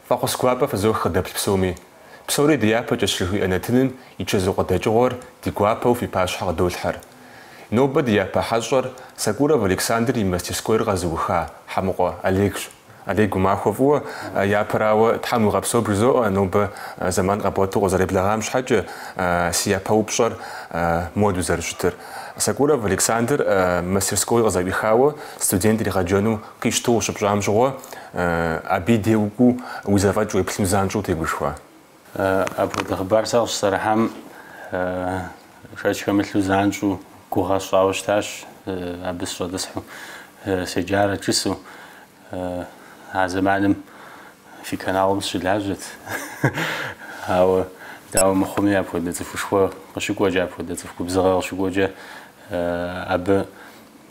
Фӏэхъус гуапэ фызох къыдэплъ псоми. Псори ди япэкӏэщ жыхуиӏэ нэтыным и чэзу къыдэкӏыгъуэр ди гуапэу фи пащхьэ къыдолъхьэр. Нобэ ди япэ хьэщӏэр Сокуров Александр и мастерскойр къэзыуха Хьэмыкъуэ Олегщ. Олег, уи махуэ фӏыуэ, япэрауэ Тхьэм уигъэпсэу бжызоӏэ, нобэ зэман къэбгъуэту укъызэреблэгъам щхьэкӏэ си япэ упщӏэр моду зэрыщытыр. Сокуров Александр мастерской къызэӏуихауэ студент иригъэджэну къищтэу щыпщӏам щыгъуэ, абы и дей укӏуэу уи зэфӏэкӏ уеплъыну занщӏэу утегушхуа? Апхуэдэ хъыбар сэ къыщысӏэрыхьам шэч хэмылъу занщӏу гугъэ сщӏауэ щытащ, абы сыщӏэтӏысхьу седжарэт жысӏэу. А зэманым фи каналым сыщылажьэт. Ауэ дауэ мыхъуми, апхуэдэ цӏыхушхуэ къыщыкӏуэкӏэ, апхуэдэ цӏыху губзыгъэ къыщыкӏуэкӏэ абы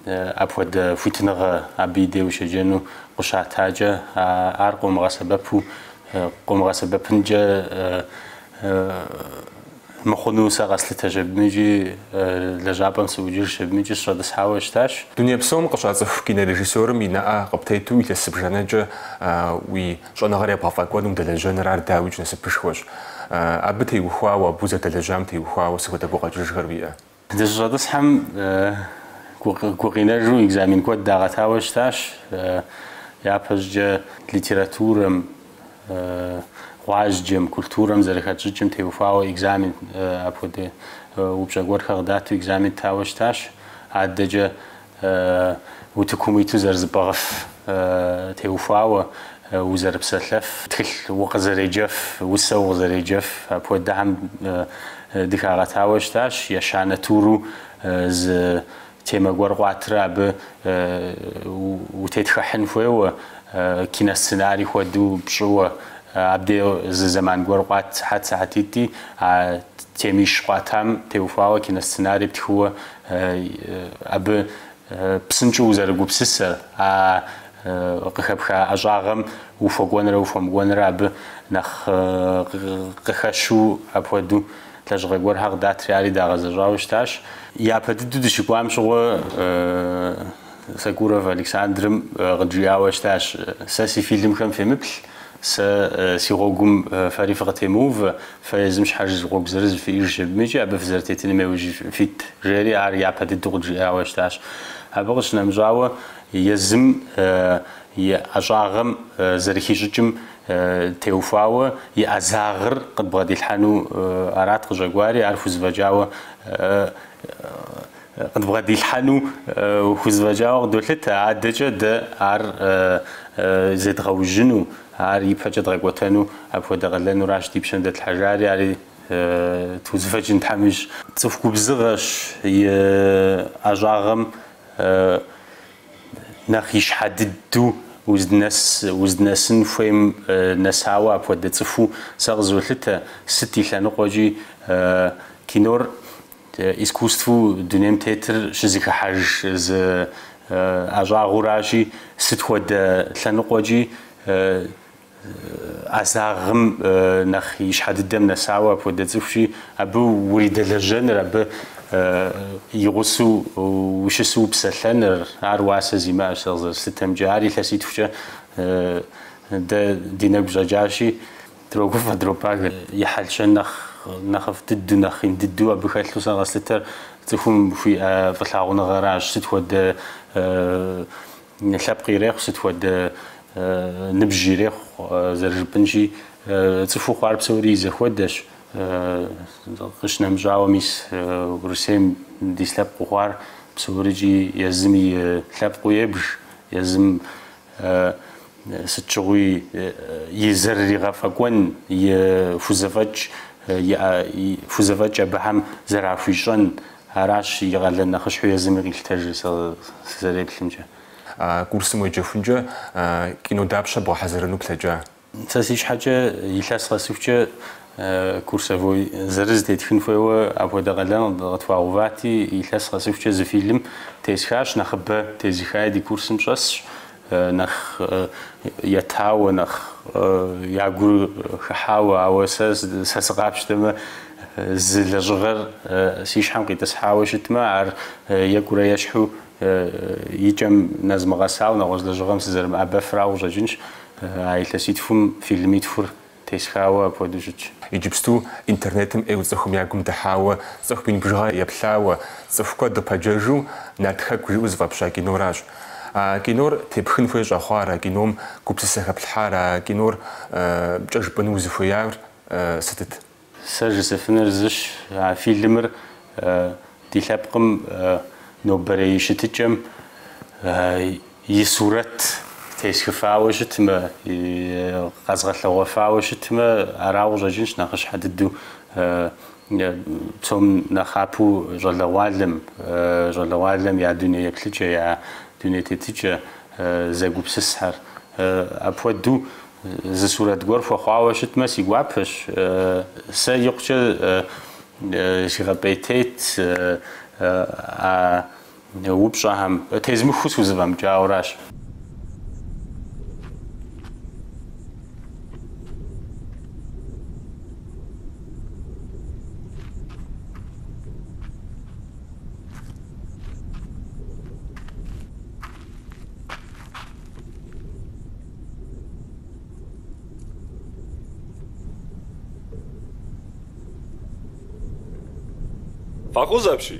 Апхуэдэ хуитыныгъэ абы и дей ущеджэну къыщатакӏэ, ар къыумыгъэсэбэпу, къыумыгъэсэбэпынкӏэ мыхъуну сэ къэслъытэщ абыми икӏи лэжьапӏэм сыӏукӏыжщ абыми икӏи сыщӏэтӏысхьауэ щытащ. Дуней псом къыщацӏыху кинорежиссёрым и нэӏэ къыптету илъэс зыбжанэкӏэ уи щӏэныгъэр ебгъэфӏэкӏуэну удэлэжьэныр ар дауикӏ насыпышхуэщ. Абы теухуауэ, абы узэдэлэжьам теухуауэ сыт хуэдэ гукъэкӏыжхэр уиӏэ? Дыщыщӏэтӏысхьэм гукъинэжу экзамен куэд дагъэтауэ щытащ. Япэщӏыкӏэ литературэм, гъуазджэм, культурэм зэрыхэтщӏыкӏым теухуауэ экзамен, апхуэдэ упщӏэ гуэрхэр къыдату экзамен ттауэ щытащ. Адэкӏэ Утыкум уиту зэрызыпӏыгъыф теухуауэ, узэрыпсэлъэф, тхылъ укъызэреджэф, усэ укъызэреджэф, апхуэдэхэм дыхагъэтауэ щытащ. Ещанэ туру зы темэ гуэр къуатрэ абы утетхыхьын хуейуэ, киносценарий хуэдэу пщӏыуэ. Абдей зы зэман гуэр къуат, сыхьэт-сыхьэтитӏи а темищ къуатам теухуауэ киносценарий птхыуэ абы псынщӏэу узэрыгупсысэр, а къыхэпха ӏэщӏагъэм ухуэкӏуэнрэ ухуэмыкӏуэнрэ абы нэхъ къыхэщу апхуэдэу лэжьыгъэ гуэрхэр къыдатри ари дагъэзэщӏауэ щытащ. Япэ дыдэу дыщыкӏуам щыгъуэ Сокуров Александрым къыджиӏауэ щытащ, Сэ си фильмхэм фемыплъ, сэ си гъуэгум фэри фыкъытемыувэ, Фэ езым щхьэж зы гъуэгу зырыз фиӏэжщ, абыми икӏи абы фызэрытетыным яужь фит, жери ар япэ дыдэу къыджиӏауэ щытащ. Абы къыщынэмыщӏауэ, езым и ӏэщӏагъэм зэрыхищӏыкӏым теухуауэ и ӏэзагъыр къыдбгъэдилъхьэну арат къыщӏэкӏуари, ар хузэфӏэкӏауэ Къыдбгъэдилъхьэну хузэфӏэкӏауэ къыдолъытэ, адэкӏэ дэ ар зедгъэужьыну, ар ипэкӏэ дгъэкӏуэтэну апхуэдэ къалэнуращ ди пщэм дэтлъхьэжари, ари тхузэфӏэкӏын Тхьэм ищӏ. Цӏыху губзыгъэщ и ӏэщӏагъэм нэхъ ищхьэ дыдэу уз, уздынэсын хуейм нэсауэ апхуэдэ цӏыхуу сэ къызолъытэ, сыт и лъэныкъуэкӏи кинор. Искусствэу дунейм тетыр щызэхыхьэж зы ӏэщӏагъэуращи, сыт хуэдэ лъэныкъуэкӏи ӏэзагъым нэхъ ищхьэ дыдэм нэсауэ апхуэдэ цӏыхущи, абы уридэлэжьэныр, абы и гъусэу ущысу упсэлъэныр, ар уасэ зимыӏэщ, сэ къызэрыслъытэмкӏэ, ар илъэситхукӏэ дэ ди нэгу щӏэкӏащи. Дрогуфӏэ, дропагэ, и хьэл-щэн нэхъыфӏ дыдэу, нэхъ ин дыдэу абы хэлъу сэ къэслъытэр цӏыхум хуиӏэ фӏылъагъуныгъэращ, сыт хуэдэ лъэпкъ ирехъу, сыт хуэдэ ныбжь ирехъу, зэрыжыпӏэнщи, цӏыхуу хъуар псори и зэхуэдэщ, къищынэмыщӏауэ, мис Урысейм дис лъэпкъыу хъуар псорикӏи, езым и лъэпкъыу ебж, езым сыт щыгъуи и зэрыригъэфӏэкӏуэн, и хузэфӏэкӏ хузэфӏэкӏ абыхэм зэрахуищӏэн, аращ и къалэн нэхъыщхьэу езыми къилъытэжыр, сызэреплъымкӏэ. А курсым уеджэхункӏэ кино дапщэ бгъэхьэзырыну плъэкӏа? Сэ си щхьэкӏэ илъэс къэсыхукӏэ курсовой зырыз тетхын хуейуэ апхуэдэ къалэн къытхуагъэувати, илъэс къэсыхукӏэ зы фильм тесхащ, нэхъыбэ тезыхаи ди курсым щӏэсщ. нэхъ етауэ, нэхъ я гур хыхьауэ, ауэ сэ, сэ сыкъапщтэмэ, зы лэжьыгъэр си щхьэм къитӏысхьауэ щытмэ, ар екӏурэ ещхьу и кӏэм нэзмыгъэсауэ нэгъуэщӏ лэжьыгъэм сызэрымыӏэбэфрауэ къыщӏэкӏынщ. А илъэситхум фильмитхур Тесхауэ апхуэдэу щытщ. Иджыпсту интернетым ӏейуэ цӏыхум я гум дыхьауэ, цӏыху мин бжыгъэ еплъауэ, цӏыху куэд къыпэджэжу Нарт хэку жиӏэу зыфӏэпща киноращ. А кинор тепхын хуей щӏэхъуар, а кином гупсысэ хэплъхьар, а киномкӏэ жыпӏэну узыхуеяр сытыт? Сэ жысӏэфынур зыщ, а фильмыр ди лъэпкъым нобэрей щытыкӏэм и сурэт тесхыфауэ щытмэ, къэзгъэлъэгъуэфауэ щытмэ, арауэ къыщӏэкӏынщ нэхъыщхьэ дыдэу псом нэхъапэу щӏалэгъуалэм, щӏалэгъуалэм я дуней еплъыкӏэ, я дуней тетыкӏэ зэгупсысхьэр. Апхуэдэу зы сурэт гуэр хуэхъуауэ щытмэ, си гуапэщ. Сэ икъукӏэ сигъэпӏейтейт а. Упщӏэхэм тезмыхыу схузэфӏэмыкӏауэращ. Фӏэкъузэпщи,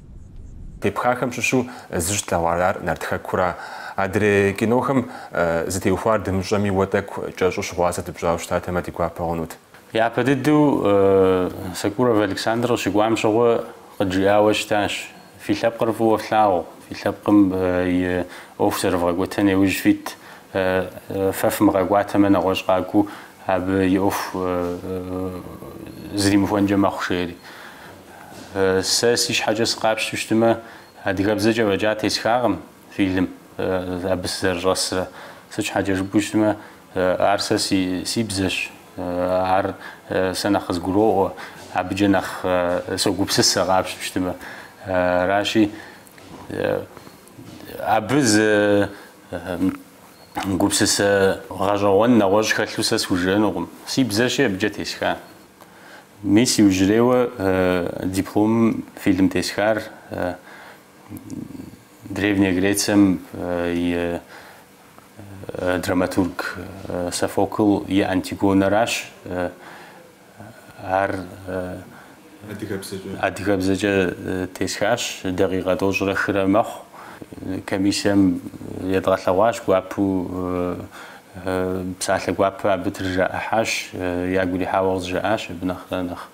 Тепхахэм щыщу зыщ тлъэгъуар ар нарт хэкура? Адрей кинохэм зытеухуар дымыщӏэми уэ тӏэкӏу кӏэщӏу щыгъуазэ дыпщӏауэ щытатэмэ ди гуапэ хъунут. Япэ дыдэу Сокуров Александр къыщыкӏуам щыгъуэ къыджиӏауэ щытащ, Фи лъэпкъыр фӏыуэ флъагъу, фи лъэпкъым и ӏуэху зэрывгъэкӏуэтэн иужь фит, фэ фымыгъэкӏуатэмэ нэгъуэщӏ къакӏуэу абы и ӏуэху зримыхуэнкӏэ мэхъу, жери. Сэ си щхьэкӏэ сыкъапщтэу щытымэ, адыгэбзэкӏэ фӏэкӏа тесхакъым фильм абы сызэрыщӏэсрэ. Сыт щхьэкӏэ жыпӏэу щытымэ, ар сэ си бзэщ, ар сэ нэхъ къызгуроӏуэ, абыкӏэ нэхъ согупсысэ къапщтэу щытымэ. Аращи, абы зы гупсысэ гъэщӏэгъуэн нэгъуэщӏ хэлъу сэ схужыӏэнукъым. Си бзэщи абыкӏэ тесха. Мис иужьрейуэ дипломым фильм тесхар Древняя Грецием и драматург Софокл и Антигонэращ. Ар адыгэбзэкӏэ тесхащ, дакъикъэ тӏощӏрэ хырэ мэхъу. Комиссием едгъэлъэгъуащ гуапэу Псалъэ гуапэ абы трыжаӏыхьащ, ягу ирихьауэ къызжаӏащ, абы нэхъ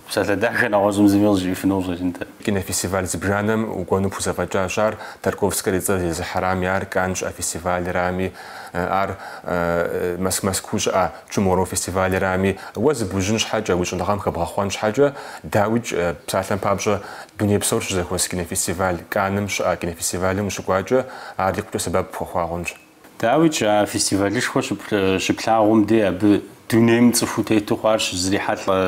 псалъэ дахэ нэгъуэщӏым зыми къызжиӏэфыну къыщӏэкӏынтэ. Кинофестиваль зыбжанэм укӏуэну пхузэфӏэкӏащ ар, Тарковскэр и цӏэр зезыхьэрами, ар Канн щыӏэ фестивалрами, ар Мэз- Мэзкуу щыӏэ Туморроу фестивалрами. Уэ зыбужьын щхьэкӏэ, уи щӏэныгъэм хэбгъэхъуэн щхьэкӏэ, дауикӏ, псалъэм папщӏэ, дуней псор щызэхуэс кинофестиваль, Канным щыӏэ кинофестивалым ущыкӏуакӏэ, ар икъукӏэ сэбэп пхуэхуа хъунщ. Дауикӏ, а фестивалышхуэ щыплъагъум дей абы дунейм цӏыхуу тету хъуар щызрихьэлӏэ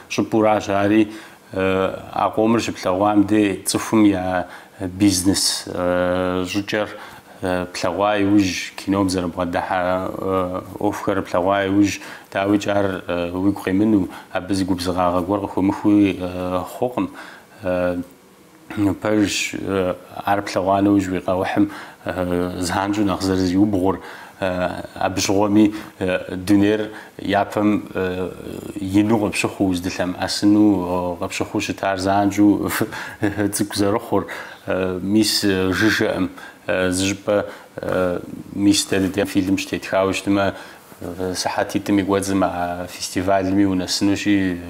щӏыпӏуращ. Ари а къомыр щыплъэгъуам дей цӏыхум я бизнес щӏыкӏэр плъэгъуа иужь, кином зэрыбгъэдыхьэ ӏуэхухэр плъэгъуа иужь, дауикӏ, ар уигу къимынэу, абы зы губзыгъагъэ гуэр къыхомыхыуи хъукъым. Пэжщ, ар плъэгъуа нэужь уи къэухьым занщӏэу нэхъ зэрызиубгъур, абы щыгъуэми дунейр япэм ину къыпщыхъуу, уздылъэмыӏэсыну къыпщыхъуу щытар занщӏэу цӏыкӏу зэрыхъур. Мис жыжьэкъым, зыщӏыпӏэ мис дэ ди дей фильм щытетхауэ щытмэ, Сыхьэтитӏым и кӏуэцӏым а фестивальми унэсынущи,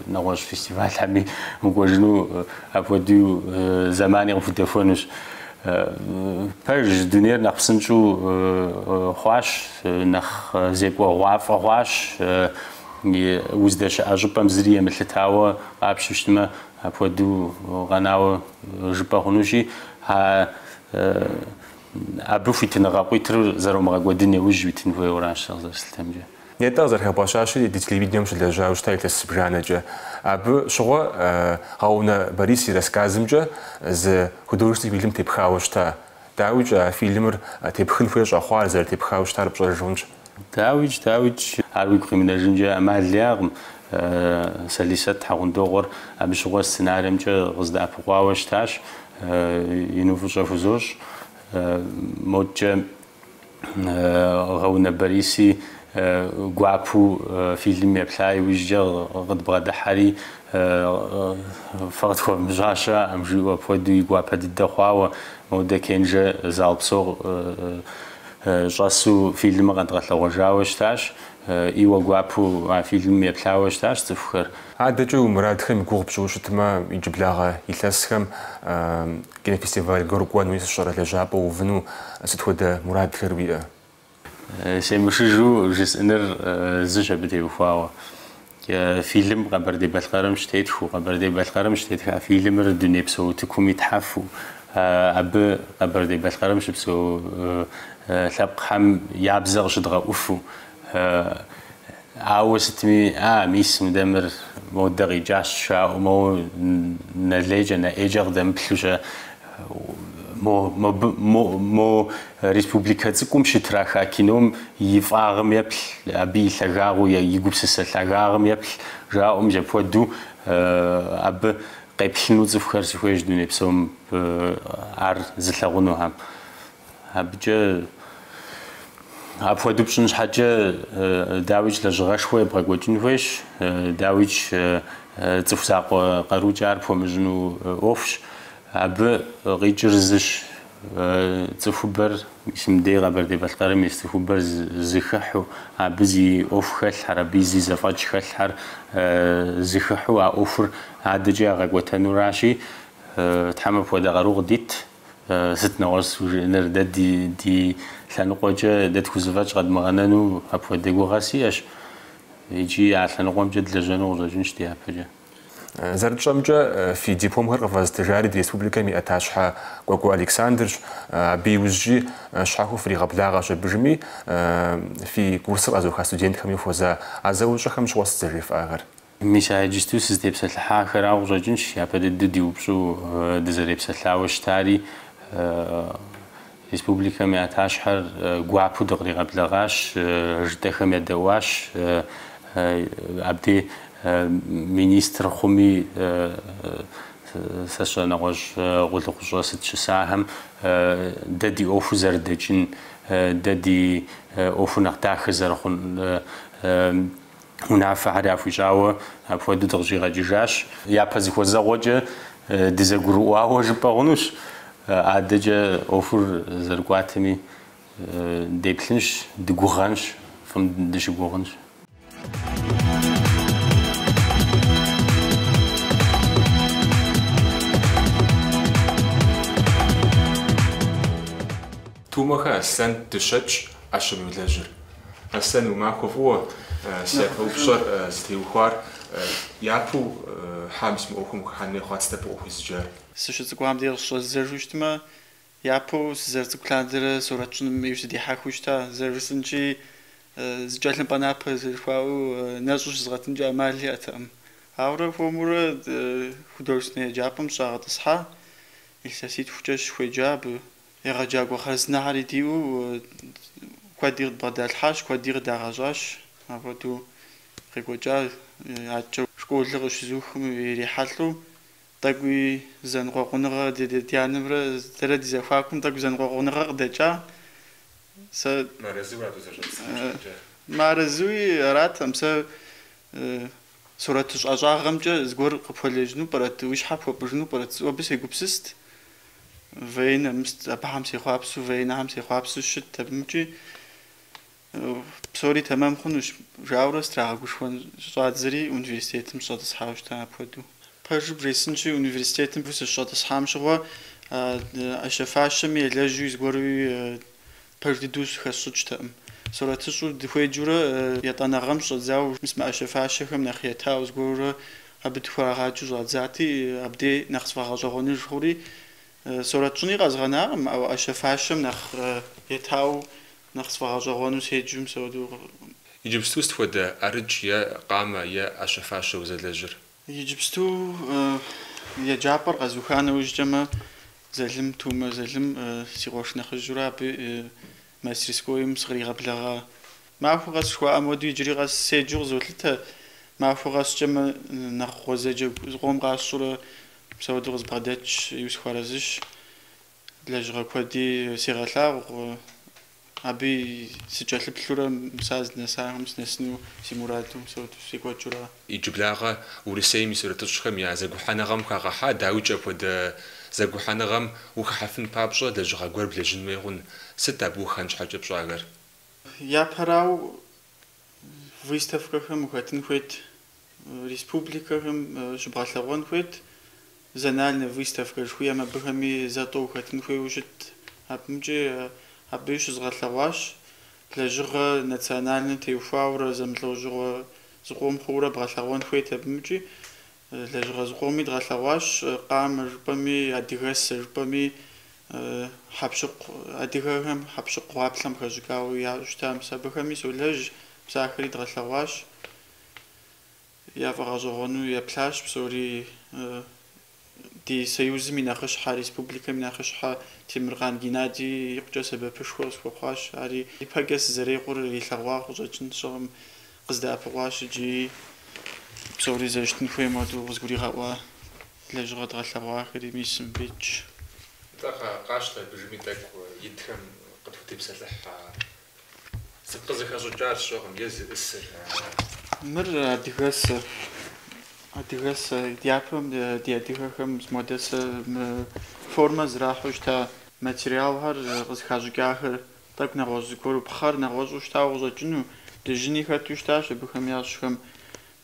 нэгъуэщӏ фестивальхэми укӏуэжыну апхуэдэу зэмани къыпхудэхуэнущ. Пэж дунейр нэхъ псынщӏэу хъуащ, нэхъ зекӏуэгъуафӏэ хъуащ. Уздэщыӏэ щӏыпӏэм зыри емылъытауэ къапщу щытмэ, апхуэдэу къэнауэ жыпӏэ хъунущи, а Абы хуитыныгъэ къуитыр зэромыгъэкӏуэдын иужь уитын хуейуэращ, сэ къызэрыслъытэмкӏэ. Нетӏэ къызэрыхэбгъэщащи, ди телевидением щылэжьауэ щыта илъэс зыбжанэкӏэ. Абы щыгъуэ Гъэунэ Борис и рассказымкӏэ зы художественный фильм тепхауэ щыта. Дауикӏэ, а фильмыр тепхын хуей щӏэхъуар зэрытепхауэ щытар пщӏэж хъунщ. Дауикӏ, дауикӏ, ар уигу къимынэжынкӏэ ӏэмал иӏэкъым. Сэлисэт Хьэгъундокъуэр абы щыгъуэ сценариемкӏэ къыздэӏэпыкъуауэ щытащ. Ину фӏыщӏэ хузощӏ. Модкӏэ Гъэунэ Бориси гуапэу фильмым еплъа иужькӏэ къыдбгъэдыхьэри, Фэ къытхуэвмыщӏа щыӏэкъым, жиӏэу апхуэдэу и гуапэ дыдэ хъуауэ, Модэ Кенжэ зал псо Щӏэсу фильмыр къэдгъэлъэгъуэжауэ щытащ, ӏейуэ гуапэу а фильмым еплъауэ щытащ цӏыхухэр. Адэкӏэ уи мурадхэм и гугъу пщӏыуэ щытмэ, иджыблагъэ илъэсхэм кинофестиваль гуэр укӏуэнуи сыщӏэрэ лэжьапӏэ уувыну сыт хуэдэ мурадхэр уиӏэ? Семышыжу жысӏэныр зыщ абы теухуауэ. Фильм Къэбэрдей-Балъкъэрым щытетхыу, Къэбэрдей-Балъкъэрым щытетха фильмыр дунейпсо утыкум итхьэфу, абы Къэбэрдей-Балъкъэрым щыпсэу лъэпкъхэм я бзэ къыщыдгъэӏуфу. Ауэ сытми, а, мис мыдэ мыр модэ къикӏащ жаӏэу, моуэ нэ лейкӏэ, нэ ӏейкӏэ къыдэмыплъу щэ. Мо, мобы, мо, мо республикэ цӏыкӏум щытраха кином и фӏагъым еплъ, абы и лъагагъыу, и гупсысэ лъагагъым еплъ, жаӏэу мис апхуэдэу, абы къеплъыну цӏыхухэр сыхуейщ дуней псом ар зылъагъунухэм. Абыкӏэ апхуэдэу пщӏын щхьэкӏэ дауикӏ лэжьыгъэшхуэ ебгъэкӏуэкӏын хуейщ. Дауикӏ цӏыху закъуэ къарукӏэ ар пхуэмыщӏыну ӏуэхущ. Абы къикӏыр зыщ, цӏыхубэр, ис, мыдей Къэбэрдей-Балъкъэрым ис цӏыхубэр зэхыхьэу, абы зи ӏуэху хэлъхьэр, абы зи зэфӏэкӏ хэлъхьэр зэхыхьэу а ӏуэхур адэкӏэ ягъэкӏуэтэнуращи, Тхьэм апхуэдэ къару къыдит. Сыт нэгъуэщӏ схужыӏэныр? Дэ ди ди лъэныкъуэкӏэ дэ тхузэфӏэкӏ къэдмыгъэнэну апхуэдэ гугъэ сиӏэщ икӏи а лъэныкъуэмкӏэ длэжьэну къыщӏэкӏынщ дяпэкӏэ. Зэрытщӏэмкӏэ, фи дипломхэр къыфэзытыжари ди республикэм и ӏэтащхьэ Кӏуэкӏуэ Александрщ. Абы иужькӏи щхьэхуэу фригъэблагъэщ абыжми, фи курсыр къэзыуха студентхэми хуэза а зэӏущӏэхэм щыгъуэ сыт зэжефӏахэр. Мис а иджысту сызытепсэлъыхьахэра къыщӏэкӏынщ, япэ дыдэу ди упщӏэу дызэрепсэлъауэ щытари, республикэм и ӏэтащхьэр гуапэу дыкъригъэблэгъащ, жытӏэхэм ядэӏуащ, абдей министр хъуми сэ сщӏэ, нэгъуэщӏ къулыкъущӏэ сыт щысахэм дэ ди ӏуэхур зэрыдэкӏын, дэ ди ӏуэхур нэхъ дахэ зэрыхъун унафэхэр яхуищӏауэ апхуэдэу дыкъыщӏигъэкӏыжащ. Япэ зыхуэзэгъуэкӏэ дызэгурыӏуауэ жыпӏэ хъунущ, адэкӏэ ӏуэхур зэрыкӏуатэми деплъынщ, дыгугъэнщ, фӏым дыщыгугъынщ. Тумэхэ Аслъэн дыщэкӏ ӏэщэм йолэжьыр. Аслъэн, уи махуэ фӏыуэ, си япэ упщӏэр зытеухуар япэу щхьэ мис мы ӏуэхум ухыхьэн хуей хъуат, сыт абы укъыхуезыджар? Сыщыцӏыкӏуам дей къыщӏэздзэжу щытмэ, япэу сызэрыцӏыкӏу лъандэрэ сурэт щӏыным ӏейуэ сыдихьэхыу щыта, зэрыжысӏэнкӏи, зы тхылъымпӏэ напэ зэрыхуаӏуэу нэщӏу щызгъэтынкӏэ ӏэмал иӏэтэкъым. Ауэрэ хуэмурэ художественнэ еджапӏэм сыщӏагъэтӏысхьа, илъэситхукӏэ сыщыхуеджа абы. Егъэджакӏуэ хъарзынэхьэри диӏэу куэди къыдбгъэдалъхьащ, куэди къыдагъэщӏащ. Апхуэдэу къекӏуэкӏа адэкӏэ школыр къыщызухым ирихьэлӏэу тӏэкӏуи зэныкъуэкъуныгъэ ди анэмрэ дэрэ ди зэхуакум тӏэкӏу зэныкъуэкъуныгъэ къыдэкӏа. Сэ мыарэзыуи аратэм, сэ Сурэтыщӏэщӏагъэмкӏэ зыгуэр къыпхуэлэжьыну пӏэрэт, уи щхьэр пхуэпӏыжыну пӏэрэт? Сэ абы сегупсыст. Военнэ, мис абыхэм сехъуапсу, военнэхэм сехъуапсу щыт. Абымкӏи псори тэмэм хъунущ, жаӏэурэ сытрагъэгушхуэн щӏадзэри университетым сщӏэтӏысхьауэ щыта апхуэдэу. Пэжыр бжесӏэнщи, университетым сыщыщӏэтӏысхьам щыгъуэ, ӏэщэ-фащэми, елэжьу зыгуэри Пэж дыдэу щыхэсщӏыкӏтэкъым. Сурэтыщӏу дыхуеджэурэ етӏуанэ гъэм щыщӏэдзауэ мис мы ӏэщэ-фащэхэм нэхъ етауэ зыгуэрурэ абы дыхуэрагъаджэу щӏадзати, абдей нэхъ сфӏэгъэщӏэгъуэныж хъури. Сурэт щӏыни къэзгъэнакъым, ауэ ӏэщэ-фащэм нэхъ етауэ нэхъ сфӏэгъэщӏэгъуэну седжэу мис апхуэдэу. Иджыпсту сыт хуэдэ ӏэрыкӏ е къамэ е ӏэщэ-фащэ узэлэжьыр? Иджыпсту еджапӏэр къэзуха нэужькӏэмэ, Залым, Тумэ Залым си къуэш нэхъыжьурэ абы мастерскойм сыкъригъэблэгъа. Махуэ къэс жыхуаӏэм хуэдэу иджыри къэс седжэу къызолъытэ. Махуэ къэскӏэмэ, нэхъ гъуэзэджэу зыкъом къасщӏурэ мис апхуэдэу къызбгъэдэтщ, ину сыхуэарэзыщ. Лэжьыгъэ куэди сегъэлъагъу, абы сыкӏэлъыплъурэ мис а здынэсахэм снэсыну си мураду секӏуэкӏыурэ. Иджыблагъэ Урысейм и сурэтыщӏхэм я зэгухьэныгъэм хагъэхьа, дауикӏ апхуэдэ зэгухьэныгъэм ухыхьэфын папщӏэ лэжьыгъэ гуэр блэжьын хуей хъун? Сыт абы ухэн щхьэкӏэ пщӏахэр? Япэрауэ, выставкэхэм ухэтын хуейт, республикэхэм щыбгъэлъэгъуэн хуейт, Зональнэ выставкэ жыхуиӏэм абыхэми зэ-тӏэу ухэтын хуейуэ щыт. Абымкӏи абыи щызгъэлъэгъуащ лэжьыгъэ национальнэ теухуаурэ зэмылӏэужьыгъуэ зыкъом хъууэрэ бгъэлъэгъуэн хуейт абымкӏи. Лэжьыгъэ зыкъоми дгъэлъэгъуащ къамэ жыпӏэми, адыгэсэ жыпӏэми, хьэпщыкъу, адыгэхэм хьэпщыкъу гъуаплъэм хэщӏыкӏауэ яӏэу щыта, мис абыхэми солэжь, мис ахэри дгъэлъэгъуащ. Яфӏэгъэщӏэгъуэну еплъащ псори ди Союзым и нэхъыщхьэ, республикэм и нэхъыщхьэ Темыркъан Геннадий икъукӏэ сэбэпышхуэ къысхуэхъуащ. Ари ипэкӏэ сызэрекъур илъэгъуа къыщӏэкӏын, сщӏэкъым, къыздэӏэпыкъуащ икӏи псори зэрыщытын хуейм хуэдэу къызгуригъэӏуа лэжьыгъэ дгъэлъэгъуахэри мис мыбдежщ. Нтӏэ, къащтэ абы жыпӏи тӏэкӏу итхэм къытхутепсэлъыхь а Сыт къызыхэщӏыкӏар сщӏэкъым, езы ӏысыр, ар. Мыр адыгэсэ. Адыгэсэ. Дяпэм ди адыгэхэм мыпхуэдэ сэ формэ зэрахьэу щыта материалхэр къызыхащӏыкӏахэр. Тӏэкӏу нэгъуэщӏ зыгуэру, пхъэр нэгъуэщӏу щытауэ къыщӏэкӏыну, дыжьыни хэту щытащ абыхэм ящӏхэм,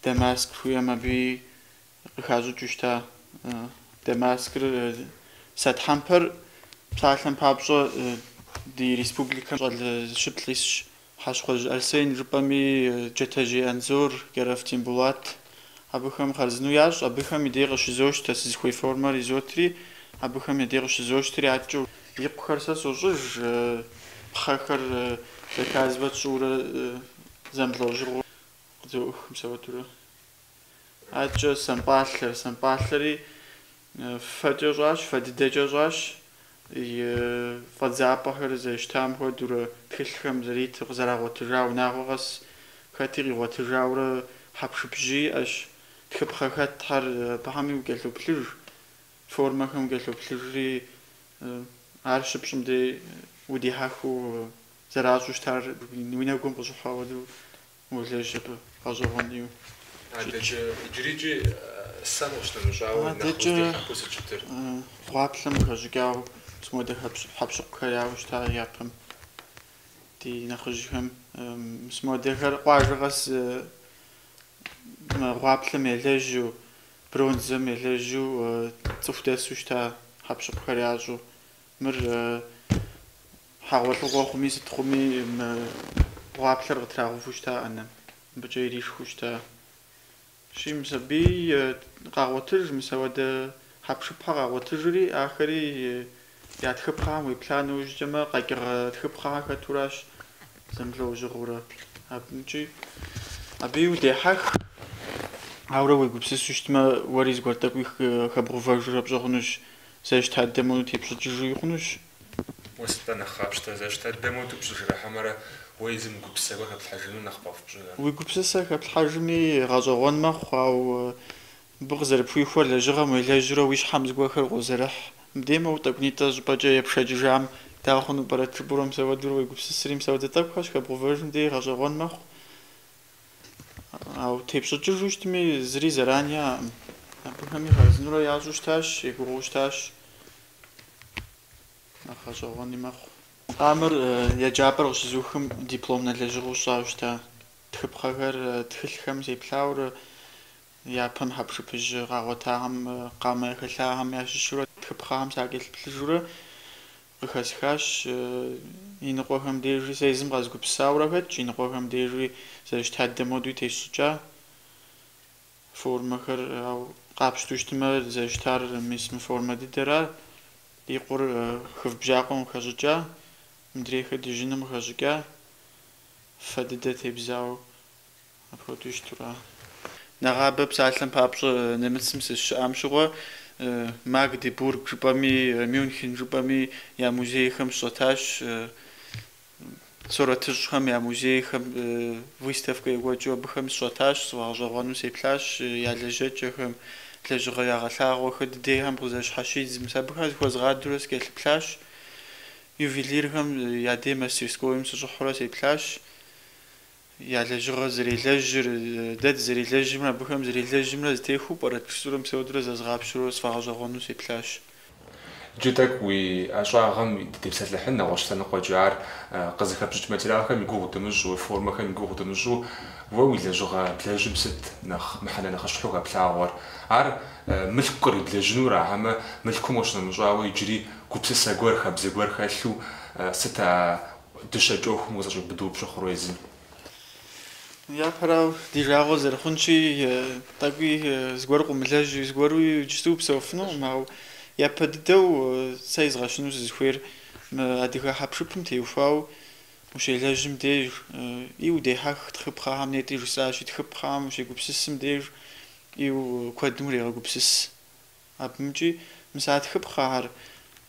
Дамаск жыхуиӏэм абыи Къыхащӏыкӏыу щыта Дамаскыр сэ тхьэмпэр псалъэм папщӏэ ди республикэм щӏэлыщып лӏисщ. Хьэщхъуэжь Арсен жыпӏэми, Джэтэжьей Анзор, Кӏэрэф Тембулат абыхэм хъарзыну ящӏ, абыхэм и дей къыщызощтэ, сызыхуей формэр изотри, абыхэм я дей къыщызощтри адэкӏэ. И къухэр сэ сощӏыж, пхъэхэр заказывэт сщӏыурэ зэмылӏэужьыгъуэу къызоӏух мысауэдурэ. Адэкӏэ сэмпӏалъэр, сэмпӏалъэри фэкӏэ щӏащ, фэ дыдэкӏэ щӏащ, и фӏэдзапӏэхэр зэрыщтам хуэдэурэ тхылъхэм зэритыр къызэрагъуэтыжа унагъуэ къэс хэти къигъуэтыжаурэ хьэпшыпжьи иӏэщ, тхыпхъэ хэтхэр абыхэми укӏэлъоплъыж, формэхэм укӏэлъоплъыжри ар щыпщӏым дей удихьэхыу зэращӏу щытар уи нэгум къыщӏыхьа хуэдэу Уолэжь абы гъэщӏэгъуэн ӏейуэ. Адэкӏэ иджырикӏи сэм къыщынэмыщӏауэ нэхъ къыздихьэхыу сыщытыр. Гъуаплъэм къыхэщӏыкӏауэ мис моуэдэ хьэкъущыкъухэр яӏэу щыта япэм. Ди нэхъыжьхэм мис моуэдэхэр къуажэ къэс мы гъуаплъэм елэжьу, бронзэм елэжьу цӏыху дэсу щыта хьэкъущыкъухэр ящӏу. Мыр Хьэгъуэлӏыгъуэ хъуми сыт хъуми мы гъуаплъэр къытрагъэуву щыта ӏэнэм, мыбыкӏэ иришхыу щытащи, мис абы къагъуэтыж, мысауэдэ хьэпшыпхэ къагъуэтыжри, ахэри я тхыпхъэхэм уеплъа нэужькӏэмэ, къэкӏыгъэ тхыпхъэхэр хэтуращ зэмылӏэужьыгъуэурэ. Абыкӏи абыи удехьэх, аурэ уегупсысу щытмэ, уэри зыгуэр тӏэкӏуи хэбгъувэжурэ пщӏэ хъунущ, зэрыщыта дыдэм хуэдэу тепщӏыкӏыжуи хъунущ, Уэ сыт-тӏэ нэхъ къапщтэр, зэрыщыта дыдэм хуэдэу пщӏыжыра хьэмэрэ уэ езым уи гупсысэхэр хэплъхьэжыну нэхъ къэфпщӏыныр? Уи гупсысэ хэплъхьэжми гъэщӏэгъуэн мэхъу, ауэ мыбы къызэрыпхуихуэр лэжьыгъэм уелэжьурэ уи щхьэм зыгуэрхэр къозэрыхь. Мыбдеж моуэ тӏэкӏунитӏэ щӏыпӏэкӏэ епшэкӏыжам дауэ хъуну пӏэрэт жыпӏэурэ мысауэдурэ уегупсысри, мысауэдэ тӏэкӏухэр щыхэбгъувэжым деж гъэщӏэгъуэн мэхъу. Ауэ тепщӏыкӏыжу щытми, зыри зэран яӏэкъым. Абыхэми хъарзынурэ ящӏу щытащ, егугъуу щытащ. Нэхъ гъэщӏэгъуэни мэхъу. Къамэр еджапӏэр къыщызухым дипломнэ лэжьыгъэу сщӏауэ щыта тхыпхъэхэр тхылъхэм сеплъаурэ япэм хьэпшыпыжь къагъуэтахэм къамэ яхэлъахэм ящыщурэ тхыпхъэхэм сакӏэлъыплъыжурэ къыхэсхащ. Иныкъуэхэм дежи сэ езым къэзгупсысаурэ хэтщ, иныкъуэхэм дежи зэрыщыта дыдэм хуэдэуи тесщӏыкӏа. формэхэр, ау къапщтэу щытымэ зэрыщытар мис мы формэ дыдэра, и къур хыв бжьакъуэм къыхэщӏыкӏа, мыдрейхэр дыжьыным къыхэщӏыкӏа, фэ дыдэ тебзауэ апхуэдэу щытура. Нэгъабэ псалъэм папщӏэ немыцым сызыщыӏам щыгъуэ Магдебург жыпӏэми, Мюнхен жыпӏэми я музейхэм сыщӏэтащ. Сурэтыщӏхэм я музейхэм выставкэ екӏуэкӏыу абыхэм сыщӏэтащ, сфӏэгъэщӏэгъуэну сеплъащ я лэжьэкӏэхэм, лэжьыгъэ ягъэлъагъуэхэр дыдейхэм къызэщхьэщидзым. Мис абыхэм зыхуэзгъадэурэ сыкӏэлъыплъащ, ювелирхэм я дей мастерскойм сыщӏыхьэурэ сеплъащ. Я лэжьыгъэр зэрелэжьыр, дэ дызэрелэжьымрэ абыхэм зэрелэжьымрэ зэтехуэу пӏэрэт жысӏэурэ мисауэдурэ зэзгъапщэурэ сфӏэгъэщӏэгъуэну сеплъащ. Иджы тӏэкӏу уи ӏэщӏагъэм дыдепсэлъыхьын нэгъуэщӏ лъэныкъуэкӏэ, ар къызыхэпщӏыкӏ материалхэм и гугъу дымыщӏу, уи формэхэм и гугъу дымыщӏу, уэ уи лэжьыгъэ блэжьым сыт нэхъ мыхьэнэ нэхъыщхьэу хэплъагъуэр? Ар мылъку къриблэжьынура, хьэмэ мылъкум къыщынэмыщӏауэ иджыри гупсысэ гуэр, хабзэ гуэр хэлъу сыт а дыщэкӏ ӏуэхум къызэщӏиубыдэу пщыхъур уэ езым? Япэрауэ, ди жагъуэ зэрыхъунщи, тӏэкӏуи зыгуэр къыумылэжьу, зыгуэру иджысту упсэуфынукъым, ауэ япэ дыдэу сэ изгъэщыну сызыхуейр мы адыгэ хьэпшыпым теухуауэ ущелэжьым деж, и удехьэх тхыпхъэхэм нетӏри жысӏащи, тхыпхъэхэм ущегупсысым деж, и куэдым урегъэгупсыс. Абымкӏи мис а тхыпхъэхэр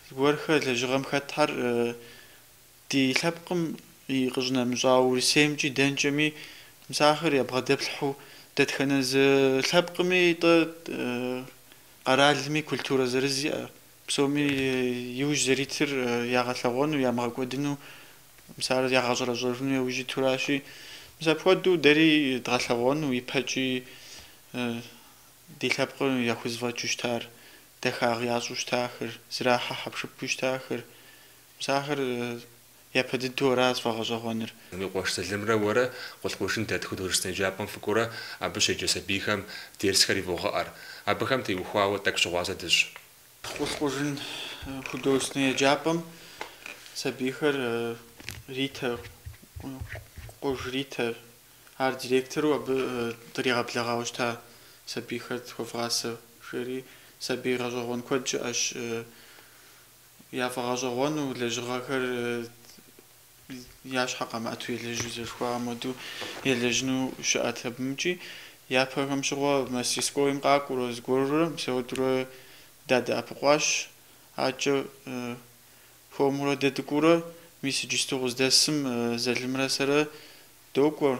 зыгуэрхэр лэжьыгъэм хэтхэр ди лъэпкъым и къыщынэмыщӏауэ Урысеймкӏи дэнкӏэми мис ахэр ябгъэдэплъхьэу дэтхэнэ зы лъэпкъми тӏэ къэралми культурэ зырыз иӏэ, псоми иужь зэритыр ягъэлъэгъуэну, ямыгъэкӏуэдыну, мис ар ягъэщӏэрэщӏэжыну яужь итуращи, мис апхуэдэу дэри дгъэлъэгъуэну ипэкӏи Ди лъэпкъым яхузэфӏэкӏыу щытар, дахагъ ящӏу щытахэр, зэрахьэ хьэпшыпу щытахэр, мис ахэр япэ дыдэу аращ сфӏэгъэщӏэгъуэныр. Уи къуэш Залымрэ уэрэ Къулъкъужын дэт художественнэ еджапӏэм фыкӏуэурэ абы щеджэ сабийхэм дерсхэр ивогъэӏэр. Абыхэм теухуауэ тӏэкӏу щыгъуазэ дыщӏ. Къулъкъужын художественнэ еджапӏэм сабийхэр Ритэр, Къуж Ритэр, Ар директору абы дригъэблэгъауэ щыта сабийхэр тхуэвгъасэ, жери. Сабий гъэщӏэгъуэн куэд щыӏэщ. Яфӏэгъэщӏэгъуэну, лэжьыгъэхэр я щхьэ къамыӏэту елэжьу, зэрыхуейм хуэдэу елэжьыну щыӏэт абымкӏи. Япэхэм щыгъуэ мастерскойм къакӏуэурэ зыгуэрурэ мисауэдурэ дадэӏэпыкъуащ. Адэкӏэ хуэмурэ дэ дыкӏуэурэ, мис иджысту къыздэсым Залымрэ сэрэ Докӏуэ,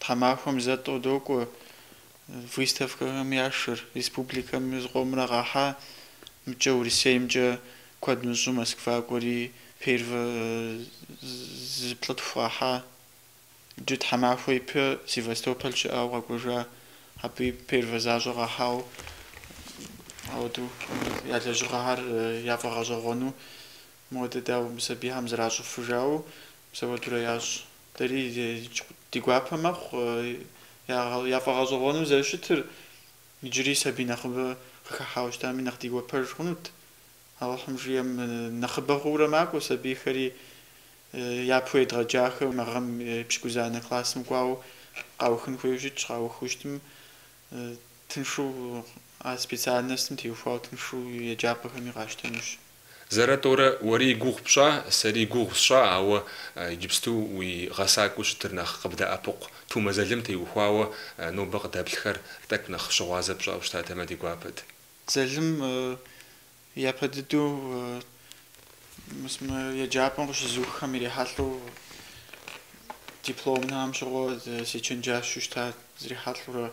тхьэмахуэм зэ-тӏэу докӏуэ выставкэхэм яшэр. Республикэм зыкъомрэ къахьа, мыкӏэ Урысеймкӏэ куэд мыщӏу Москва кӏуэри первэ зыплӏытху къахьа. Иджы тхьэмахуэ ипэ Севастополь щыӏауэ къэкӏуэжа, абыи первэ защӏэ къахьау ауэдэу я лэжьыгъэхэр яфӏэгъэщӏэгъуэну Модэ, дауэ, мы сабийхэм зэращӏыфыр жаӏэу мис ауэдурэ ящӏ. Дэри ди гуапэ мэхъу яфӏэгъэщӏэгъуэну зэрыщытыр, иджыри сабий нэхъыбэ къыхыхьауэ щытами, нэхъ ди гуапэж хъунут. Алыхьым жиӏэм, нэхъыбэ хъуурэ макӏуэ сабийхэри, япэу едгъэджахэм, мы гъэм пщыкӏузанэ классым кӏуауэ къаухын хуейуэ щытщ, къаухыу щытым, тыншу а специальностым теухуауэ тыншу еджапӏэхэми къащтэнущ. Зэрэ-тӏорэ уэри и гугъу пщӏа, сэри и гугъу сщӏа, ауэ иджыпсту уи гъэсакӏуэу щытыр нэхъ къыбдэӏэпыкъу Тумэ Залым теухуауэ нобэ къыдэплъхэр тӏэкӏу нэхъ щыгъуазэ пщӏауэ щытатэмэ ди гуапэт. Залым япэ дыдэу мис мы еджапӏэм къыщызуххэм ирихьэлӏэу дипломнэм щыгъуэ сечэнджэщу щыта срихьэлӏэурэ.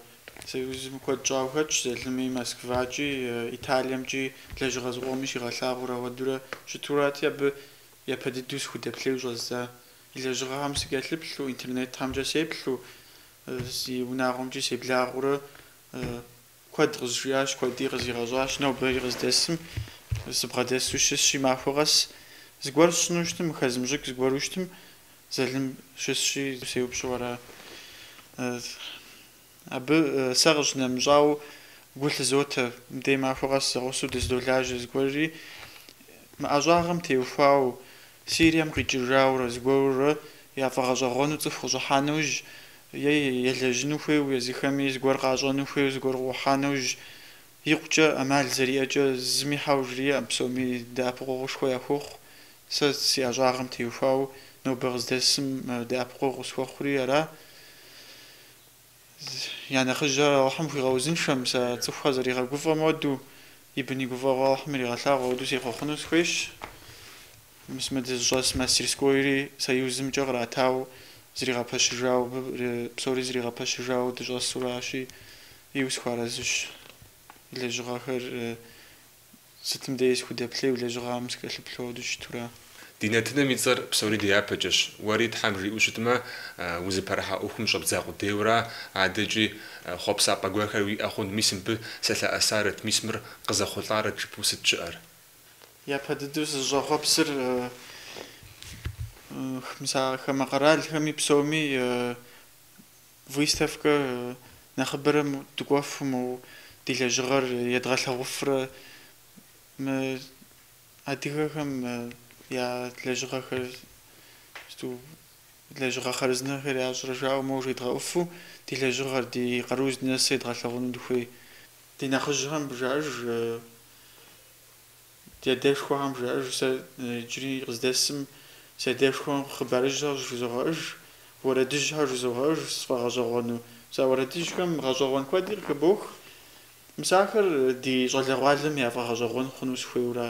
Союзым куэд щӏауэ хэтщ, Залыми Москвакӏи, Италиемкӏи, лэжьыгъэ зыкъоми щигъэлъагъуурэ ауэдурэ щытурати, абы япэ дыдэу сыхудэплъейуэ щӏэздза. И лэжьыгъэхэм сыкӏэлъыплъу, интернетхэмкӏэ сеплъу, си унагъуэмкӏи себлагъэурэ куэд къызжиӏащ, куэди къызигъэщӏащ. Нобэри къыздэсым сыбгъэдэсу щысщи, махуэ къэс зыгуэр сщӏыну щытым, мы хэзмыщӏыкӏ зыгуэру щытым, Залым щысщи, сеупщӏу ара. Абы сэ къыщынэмыщӏауэ гу лъызотэ, мыдей махуэ къэс зэгъусэу дыздолажьэ зыгуэрри, мы ӏэщӏагъэм теухуауэ, Сирием къикӏыжаурэ зыгуэрурэ яфӏэгъэщӏэгъуэну цӏыху къыщӏыхьа нэужь, е елэжьыну хуейуэ езыхэми зыгуэр къащӏэну хуейуэ зыгуэр къыӏухьа нэужь, Икъукӏэ ӏэмал зэриӏэкӏэ зыми хьэуэ жриӏэм, псоми дэӏэпыкъуэгъушхуэ яхуохъу. Сэ си ӏэщӏагъэм теухуауэ нобэ къыздэсым дэӏэпыкъуэгъу къысхуэхъури ара. Я нэхъыжьыр Алыхьым хуигъэузыншэ, мис а цӏыхухэр зэригъэгуфӏэм уэду, и бын и гуфӏэгъуэ Алыхьым иригъэлъагъу, ауэду сехъуэхъуну сыхуейщ. Мис мы дызыщӏэс мастерскойри Союзымкӏэ къратау зригъэпэщыжауэ, абы псори зригъэпэщыжауэ дыщӏэсуращи, иу сыхуэарэзыщ, и лэжьыгъэхэр сытым деи сыхудэплъейуэ, и лэжьыгъэм сыкӏэлъыплъу уэду щытура. Ди нэтынэм и цӏэр псори дяпэкӏэщ. Уэри Тхьэм жиӏэу щытмэ, узыпэрыхьа ӏуэхум щӏэбдза къудейуэра, адэкӏи хъуэпсапӏэ гуэрхэр уиӏэ хъун, мис мыбы сэлъэӏэсарэт, мис мыр къызэхъулӏарэт жыпӏэу сыт щыӏэр? Япэ дыдэу сызыщӏэхъуэпсыр мис а хамэ къэралхэми псоми выставкэ нэхъыбэрэ дыкӏуэфу, мы ди лэжьыгъэр едгъэлъэгъуфрэ мы адыгэхэм я лэжьыгъэхэр сыту лэжьыгъэ хъарзынэхэр ящӏрэ жаӏэу моуэ жедгъэӏуфу, ди лэжьыгъэр, ди къару здынэсыр едгъэлъэгъуну дыхуей. Ди нэхъыжьхэм жаӏэж, ди адэшхуэхэм жаӏэж, сэ иджыри къыздэсым си адэшхуэм хъыбарыжьхэр жызогъэӏэж, уэрэдыжьхэр жызогъэӏэж сфӏэгъэщӏэгъуэну. Мис а уэрэдыжьхэм гъэщӏэгъуэн куэди къыхыбох. Мис ахэр ди щӏалэгъуалэм яфӏэгъэщӏэгъуэн хъуну сыхуейуэра.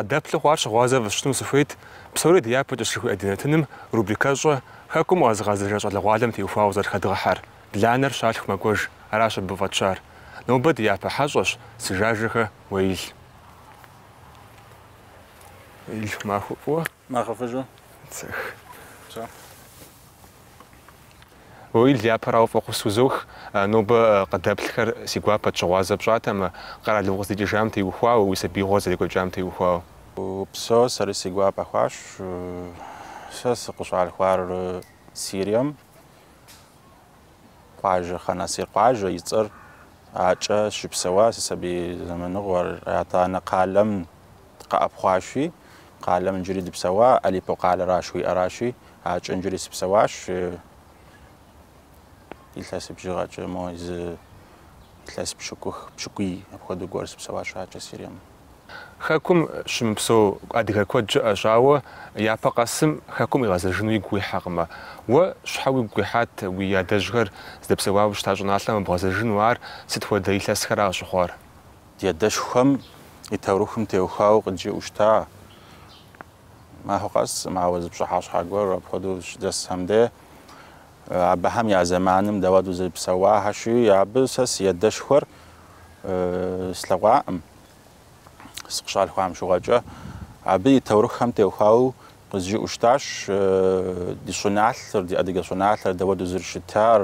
Къыдэплъу хъуар щыгъуазэ фысщӏыну сыхуейт, псори ди япэкӏэщ жыхуиӏэ ди нэтыным рубрикэщӏэ Хэкум къэзыгъэзэжа щӏалэгъуалэм теухуауэ зэрыхэдгъэхьэр, Бланэр щалъху мэкӏуэж, аращ абы фӏэтщар. Нобэ ди япэ хьэщӏэщ Сыжажэхэ Уеил. Нэхъыфӏыжу. Цех. Цо. Уеил, япэрауэ фӏэхъус узох, нобэ къыдэплъхэр си гуапэт щыгъуазэ пщӏатэмэ, къэралым укъыздикӏыжам теухуауэ, уи сабиигъуэр зэрекӏуэкӏам теухуауэ. Упсо, сэри си гуапэ хъуащ, сэ сыкъыщалъхуар Сирием, Къуажэ Хъэнасир къуажэ и цӏэр акӏэ щыпсэуа си сабий зэманыгъуэр. Атӏанэ къалэм къэӏэпхъуащи, къалэм иджыри дыпсэуа, Алипо къалэра жыхуиӏэращи, акӏэ иджыри сыпсэуащ. Илъэс бжыгъэкӏэ мо зы илъэс пщыкӏух, пщыкӏуий апхуэдэу гуэр сыпсэуащ акӏэ Сирием. Хэкум щымыпсэу адыгэ куэд щыӏэщ, ауэ япэ къэсым Хэкум къигъэзэжыну игу къихьэкъымэ. Уэ щхьэ уигу къихьат уи адэжьхэр здэпсэуауэ щыта щӏыналъэм къэбгъэзэжыну, ар сыт хуэдэ илъэсхэра къыщыхъуар? Ди адэшхуэхэм и таурыхъым теухуауэ къыджиӏэу щыта махуэ къэс, моуэ зы пщыхьэщхьэ гуэр апхуэдэу щыдэсхэм де, Абыхэм я зэманым дауэду зэрыпсэуахэщи, абы сэ си ядэшхуэр слъэгъуаӏым, сыкъыщалъхуам щыгъуэкӏэ. Абы и таурыхъхэм теухуауэ къызжиӏэу щытащ ди щӏыналъэр, ди адыгэ щӏыналъэр дауэду зэрыщытар,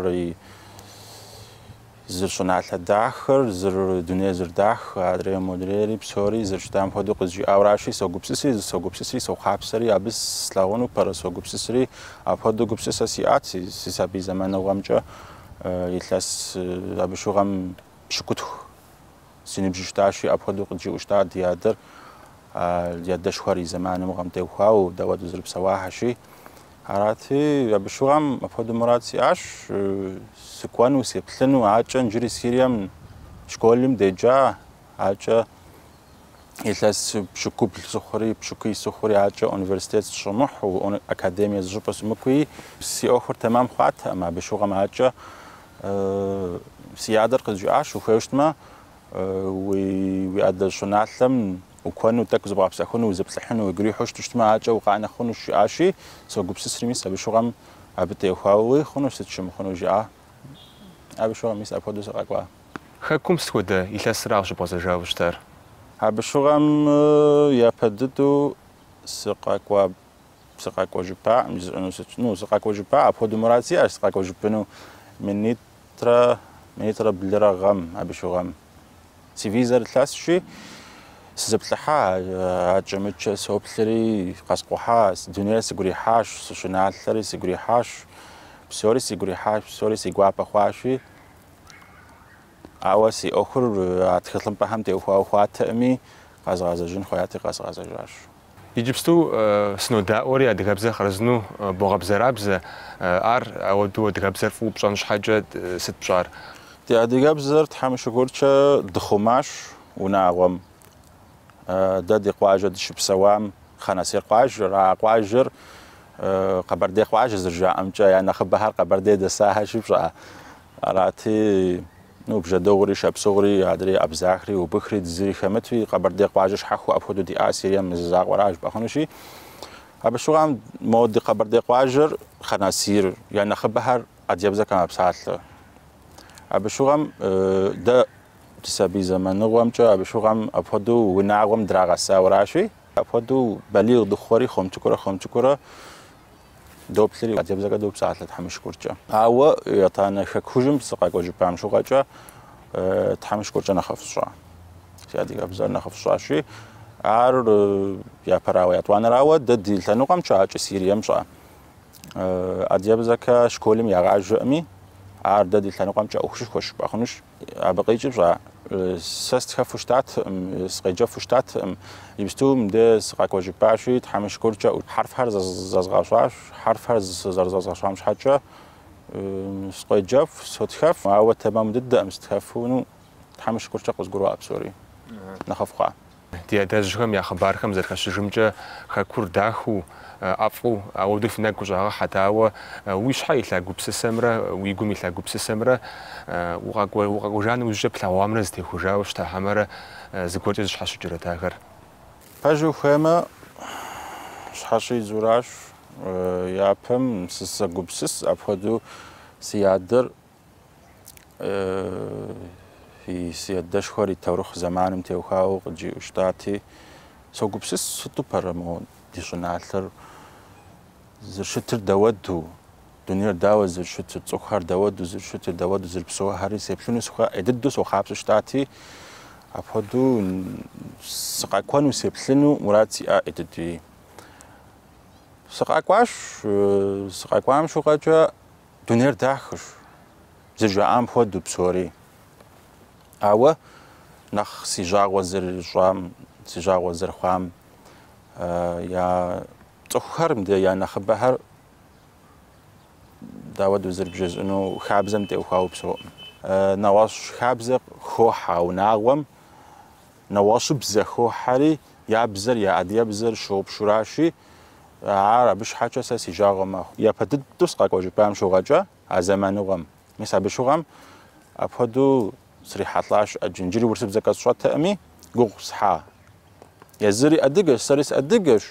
Зэрыщӏыналъэ дахэр, зэрыдунейр зэрыдахэ, адрейр модрейри, псори зэрыщытам хуэдэу къызжиӏэуращи, согупсыси, зысогупсыси, сохъуапсэри, абы слъагъуну пэрэ согупсысри, апхуэдэу гупсысэ сиӏат си си сабий зэманыгъуэмкӏэ, илъэс абы щыгъуэм пщыкӏутху. Си ныбжь щытащи, апхуэдэу къыджиӏэу щыта ди адэр, ди адэшхуэр и зэманым гъэм теухуауэ, дауэдэу зэрыпсэуахэщи. Арати, абы щыгъуэм апхуэдэ мурад сиӏащ, сыкӏуэну, сеплъыну, акӏэ нджыри Сирием школым деджа, акӏэ илъэс пщыкӏубл сыхъури, пщыкӏуий сыхъури, акӏэ университет сыщӏэмыхьэу, академие зыщӏыпӏэ сымыкӏуи, си ӏуэхур тэмам хъуатэкъым, абы щыгъуэм акӏэ Си адэр къызжиӏащ, ухуейуэ щытмэ, уи адэ щӏыналъэм укӏуэну, тӏэкӏу зыбгъэпсэхуну, узэплъыхьыну уигу ирихьу щыту щытмэ, акӏэ укъанэ хъунущ, жиӏащи, согупсысри, мис абы щыгъуэм абы теухуауи хъуну, сыт щӏэмыхъуну, жиӏа. Абы щыгъуэм, мис апхуэдэу сыкъэкӏуа. Хэкум сыт хуэдэ илъэсра къыщыбгъэзэжауэ щытар? Абы щыгъуэм япэ дыдэу сыкъэкӏуа. Сыкъэкӏуэжыпаӏым жысӏэну сыт? Ну, сыкъэкӏуэжыпа, апхуэдэу мурад сиӏащ, сыкъэкӏуэжыпыну минитӏрэ, минитӏрэ блырэ гъэм, абы щыгъэм. Си визэр илъэсщи, сызэплъыхьа, акӏэмыкӏэ соплъри, къэскӏухьа, дунейр сигу ирихьащ, си щӏыналъэри сигу ирихьащ, псори сигу ирихьащ, псори си гуапэ хъуащи, ауэ си ӏуэхур а тхылъымпӏэхэм теухуауэ хъуатэӏыми, къэзгъэзэжын хуеяти, къэзгъэзэжащ. Иджыпсту сынодаӏуэри адыгэбзэр хъарзыну богъэбзэрабзэ, ар апхуэдэу адыгэбзэр фӏыуэ пщӏэн щхьэкӏэ сыт пщӏар? Ди адыгэбзэр Тхьэм и шыкуркӏэ дыхъумащ унагъуэм. Дэ ди къуажэ дыщыпсэуам Хъанасир къуажэр, а къуажэр Къэбэрдей къуажэ зэрыжаӏэмкӏэ, я нэхъыбэхэр Къэбэрдей дэсахэщи, пщӏа. Арати. Ну, бжьэдыгъури, шапсыгъури, адрей, абзахри, убыхри, зыри хэмытуи, Къэбэрдей къуажэ щхьэхуэ апхуэдэу диӏар Сирием мы зы закъуэра жыпӏэ хъунущи. Абы щыгъуэм мо ди Къэбэрдей къуажэр Хъанасир, я нэхъыбэхэр адыгэбзэкӏэ мэпсалъэ. Абы щыгъуэм дэ ди сабий зэманыгъуэмкӏэ абы щыгъуэм апхуэдэу унагъуэм драгъэсауэращи, апхуэдэу балигъ дыхъури, хуэм цӏыкӏуурэ-хуэм цӏыкӏуурэ Доплъри, адыгэбзэкӏэ допсалъэ Тхьэм и шыкуркӏэ. Ауэ етӏанэ хэкужьым сыкъэкӏуэжыпам щыгъуэкӏэ Тхьэм и шыкуркӏэ нэхъыфӏ сщӏа, си адыгэбзэр нэхъыфӏ сщӏащи, ар япэрауэ етӏуанэрауэ дэ ди лъэныкъуэмкӏэ, акӏэ Сирием, пщӏа, адыгэбзэкӏэ школым ягъаджэӏыми, ар дэ ди лъэныкъуэмкӏэ ӏуэхушышхуэ жыпӏэ хъунущ. Абы къикӏи пщӏа, сэ сытхэфу щытатэкъым, сыкъеджэфу щытатэкъым. Иджыпсту мыбдэ сыкъэкӏуэжыпащи, Тхьэм и шыкуркӏэ, хьэрфхэр зэзгъэщӏащ, хьэрфхэр зэрызэзгъэщӏам щхьэкӏэ сыкъоджэф, сотхэф, ауэ тэмэму дыдэкъым сытхэфыну, Тхьэм и шыкуркӏэ къызгурыӏуа псори, нэхъыфӏ хъуа. Ди адэжьхэм я хъыбархэм зэрыхэщыжымкӏэ, Хэкур дахэу, ӏэфӏу, ауэдэу фи нэгу къыщӏагъэхьэт, ауэ уи щхьэ илъа гупсысэмрэ уи гум илъа гупсысэмрэ укъэкӏуэжа нэужькӏэ плъэгъуамрэ зытехужауэ щыта хьэмэрэ зыгуэркӏэ зыщхьэщыкӏырэт ахэр? Пэжу хуеймэ, щхьэщидзуращ. Япэм сызэгупсыс, апхуэдэу си адэр Фи си адэшхуэр и таурыхъ зэманым теухауэ къыджиӏэу щытати, согупсыс сыту пэрэ мо ди щӏыналъэр зэрыщытыр дауэду, дунейр дауэ зэрыщытыр, цӏыхухэр дауэду зэрыщытыр, дауэду зэрыпсэухэри сеплъыну сыхуэ ӏей дыдэу сохъуапсэу щытати, апхуэдэу сыкъэкӏуэну, сеплъыну мурад сиӏэ ӏей дыдэуи. Сыкъэкӏуащ, сыкъэкӏуам щыгъуэкӏэ Дунейр дахэщ, зыжаӏам хуэдэу псори. Ауэ нэхъ си жагъуэ зэрыщӏам, си жагъуэ зэрыхъуам я цӏыхухэр, мыдэ я нэхъыбэхэр дауэду зэрыбжесӏэну хабзэм теухуауэ псэуӏым. Нэгъуэщӏ хабзэ хохьэ а унагъуэм, нэгъуэщӏыбзэ хохьэри, Я бзэр, я адыгэбзэр щыгъупщэуращи, ар абы щхьэкӏэ сэ си жагъуэ мэхъу. Япэ дыдэу сыкъэкӏуэжыпам щыгъуэкӏэ а зэманыгъуэм. Мис абы щыгъуэм апхуэдэу срихьэлӏащ ӏэджэ. Иджыри урысыбзэкӏэ сщӏэтэкъыми, гугъу сехьа. Езыри адыгэщ, сэри сыадыгэщ.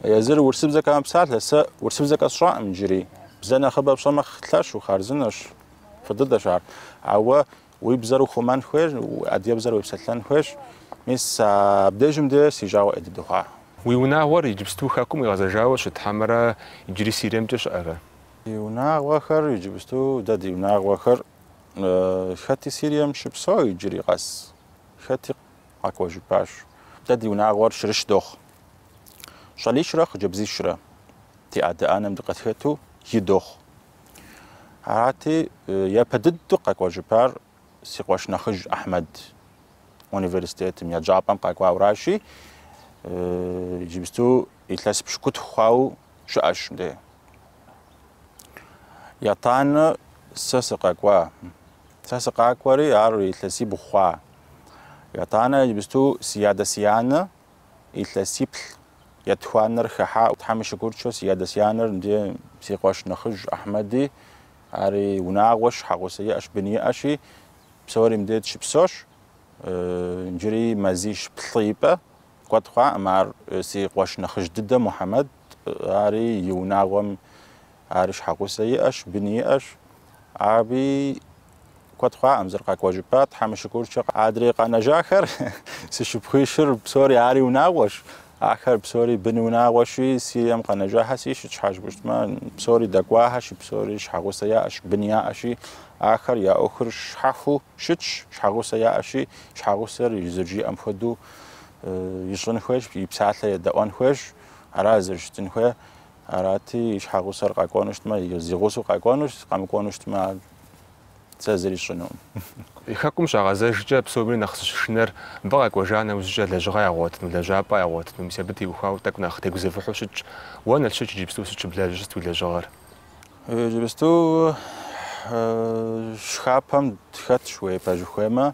Езыр урысыбзэкӏэ мэпсалъэ, сэ урысыбзэ къэсщӏакъым иджыри. Бзэ нэхъыбэ пщӏэмэ, лъэщу, хъарзынэщ, фӏы дыдэщ ар. Ауэ Уи бзэр ухъумэн хуейщ, адыгэбзэр уепсэлъэн хуейщ. Мис абдежым де си жагъуэ ӏей дыдэ хъуа. Уи унагъуэр иджыпсту Хэкум къигъэзэжауэ щыт хьэмэрэ иджыри Сириемкӏэ щыӏэрэ? Ди унагъуэхэр иджыпсту, дэ ди унагъуэхэр хэти Сирием щыпсэу иджыри къэс, хэти къэкӏуэжыпащ. Дэ ди унагъуэр щырыщ дохъу. Щӏалищрэ хъыджэбзищрэ, ди адэ-анэм дыкъытхэту, и дохъу. Арати, япэ дыдэу къэкӏуэжыпар си къуэш нэхъыжь Ахьмэд университетым, еджапӏэм къэкӏуауращи, иджыпсту илъэс пщыкӏутху хъуауэ щыӏэщ мыдэ. Етӏанэ сэ сыкъэкӏуа, сэ сыкъакӏуэри ар илъэсибгъу хъуа. Етӏанэ иджыпсту си адэ-си анэ Илъэсиплӏ етхуанэр хэхьауэ Тхьэм и шыкуркӏэ си адэ си анэр мыдэ си къуэш нэхъыжь Ахьмэди ари унагъуэщ щхьэгъусэ иӏэщ бын иӏэщи псори мыдэ дыщыпсэущ иджыри мазищ плӏы ипэ куэд хъуаӏым ар си къуэш нэхъыжь дыдэ Мухьэмэд Ари и унагъуэм ар щхьэгъусэ иӏэщ, бын иӏэщ. Аби куэд хъуакъым зэрыкъэкӏуэжыпа, Тхьэм и шыкуркӏэ. Адрей къэнэжахэр си шыпхъуищыр псори ари унагъуэщ. Ахэр псори бын унагъуэщи, Сирием къэнэжахэр сыт щхьэ жыпӏущтмэ, псори дэкӏуахэщи, псори щхьэгъусэ яӏэщ, бын яӏэщи, ахэр я ӏуэхур щхьэхуэу щытщ, щхьэгъусэ яӏэщи, щхьэгъусэр зэрыжиӏэм хуэдэу ищӏын хуейщ, и псалъэ едэӏуэн хуейщ. Ара зэрыщытын хуейр. Арати, и щхьэгъусэр къэкӏуэну щытмэ, зэгъусэу къэкӏуэну щыт, къэмыкӏуэну щытмэ, сэ зыри сщӏынукъым. И хэкум щагъэзэжкӏэ псоми нэхъ зыщышынэр мыбы къэкӏуэжа нэужькӏэ лэжьыгъэ ягъуэтыну, лэжьапӏэ ягъуэтыну, мис абы теухуауэ тӏэкӏу нэхъ тегузэвыхьу щытщ. Уэ, Налшык, иджыпсту сыт щыблэжьыр, сыт уи лэжьыгъэр? Иджыпсту шхапӏэм тхэтщ, уей, пэжу хуеймэ,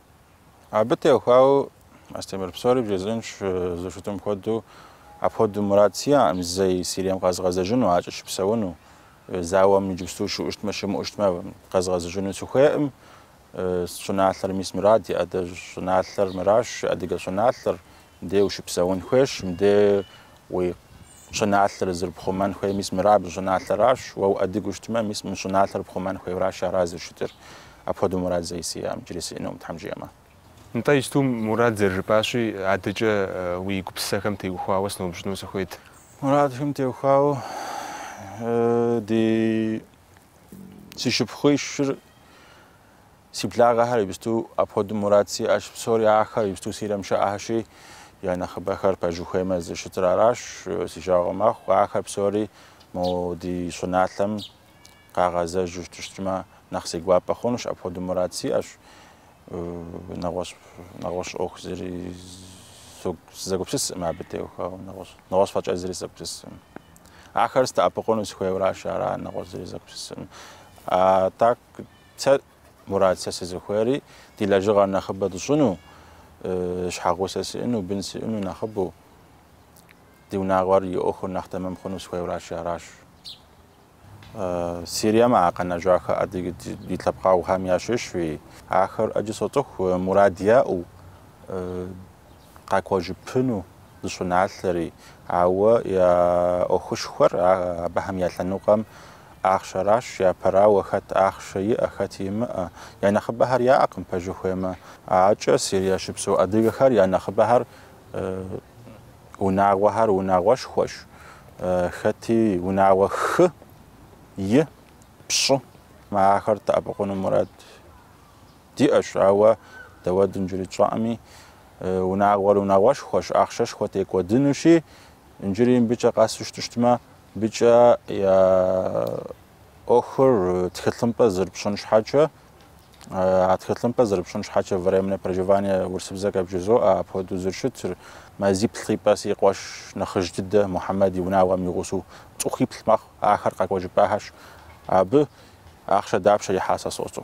Абы теухуауэ Астемыр псори бжесӏынщ, зыщытым хуэдэу апхуэдэу мурад сиӏэкъым зэи Сирием къэзгъэзэжыну, акӏэ щыпсэуну, зауэм иджыпсту щыӏущтмэ, щымыӏущтмэ къэзгъэзэжыну сыхуейкъым. Щӏыналъэр мис мыра ди адэжь щӏыналъэр мыращ, адыгэ щӏыналъэр, Мыдей ущыпсэун хуейщ, мыдей уи щӏыналъэр зэрыпхъумэн хуей, мис мыра абы щӏыналъэращ, уэ уадыгэу щытмэ, мис мы щӏыналъэр пхъумэн хуейращ, ара зыщытыр. Апхуэдэу мурад зэи сиӏэкъым, иджыри сиӏэнукъым, Тхьэм жиӏэмэ. Нтӏэ, иджыпсту мурад зэрыжыпӏащи, адэкӏэ уи гупсысэхэм теухуауэ сыноупщӏыну сыхуейт. Мурадхэм теухуауэ ди си шыпхъуищыр Си благъэхэр иджыпсту апхуэдэу мурад сиӏэщ, псори ахэр иджыпсту Сирием щыӏэхэщи, я нэхъыбэхэр пэжу хуеймэ зыщытыр аращ, си жагъуэ мэхъу, ахэр псори мо ди щӏыналъэм къагъэзэжу щытыщтмэ, нэхъ си гуапэ хъунущ, апхуэдэу мурад сиӏэщ, нэгъуэщӏ, нэгъуэщӏ ӏуэху зыри сызэгупсысым абы теухуауэ, нэгъуэщӏ, нэгъуэщӏ фӏэкӏэ зыри сызэгупсысым. Ахэр сдэӏэпыкъуну сыхуейуэращ, ара нэгъуэщӏ зыри зэгупсысым. А так Сэ мурад, сэ сызыхуейри ди лэжьыгъэр нэхъыбэ тщӏыну, щхьэгъусэ сиӏыну, бын сиӏыну нэхъыбэу, ди унагъуэр и ӏуэхур нэхъ тэмэм хъуну сыхуейуращи, аращ. Сирием а къэнэжахэ адыгэ ди лъэпкъэгъухэм ящыщу, ахэр ӏэджи соцӏыху, мурад яӏэу, къакӏуэжыпыну ди щӏыналъэри, ауэ я ӏуэхушхуэр абыхэм я лъэныкъуэм ахъшэращ, япэрауэ хэт ахъшэ иӏэ, хэт имыӏэ, я нэхъыбэхэр яӏэкъым, пэжу хуеймэ. Акӏэ Сирие щыпсэу адыгэхэр я нэхъыбэхэр, унагъуэхэр унагъуэшхуэщ, хэти унагъуэ хы, и, пщӏы. Ахэр дэӏэпыкъуну мурад Диӏэщ, ауэ дауэ дэ иджыри тщӏэкъыми, унагъуэр унагъуэшхуэщ, ахъшэшхуэ текӏуэдынущи, иджыри мыбыкӏэ къэсу щытыщтмэ, мыбыкӏэ я ӏуэхур тхылъымпӏэ зэрыпщӏын щхьэкӏэ, а тхылъымпӏэ зэрыпщӏын щхьэкӏэ временное проживание урысыбзэкӏэ бжызоӏэ, апхуэдэу зэрыщытыр мазиплӏ ипэ си къуэш нэхъыжь дыдэ Мухьэмэд и унагъуэм и гъусэу цӏыхуиплӏ мэхъу, ахэр къэкӏуэжыпахэщ, абы ахъшэ дапщэ ихьа сэ сощӏэ.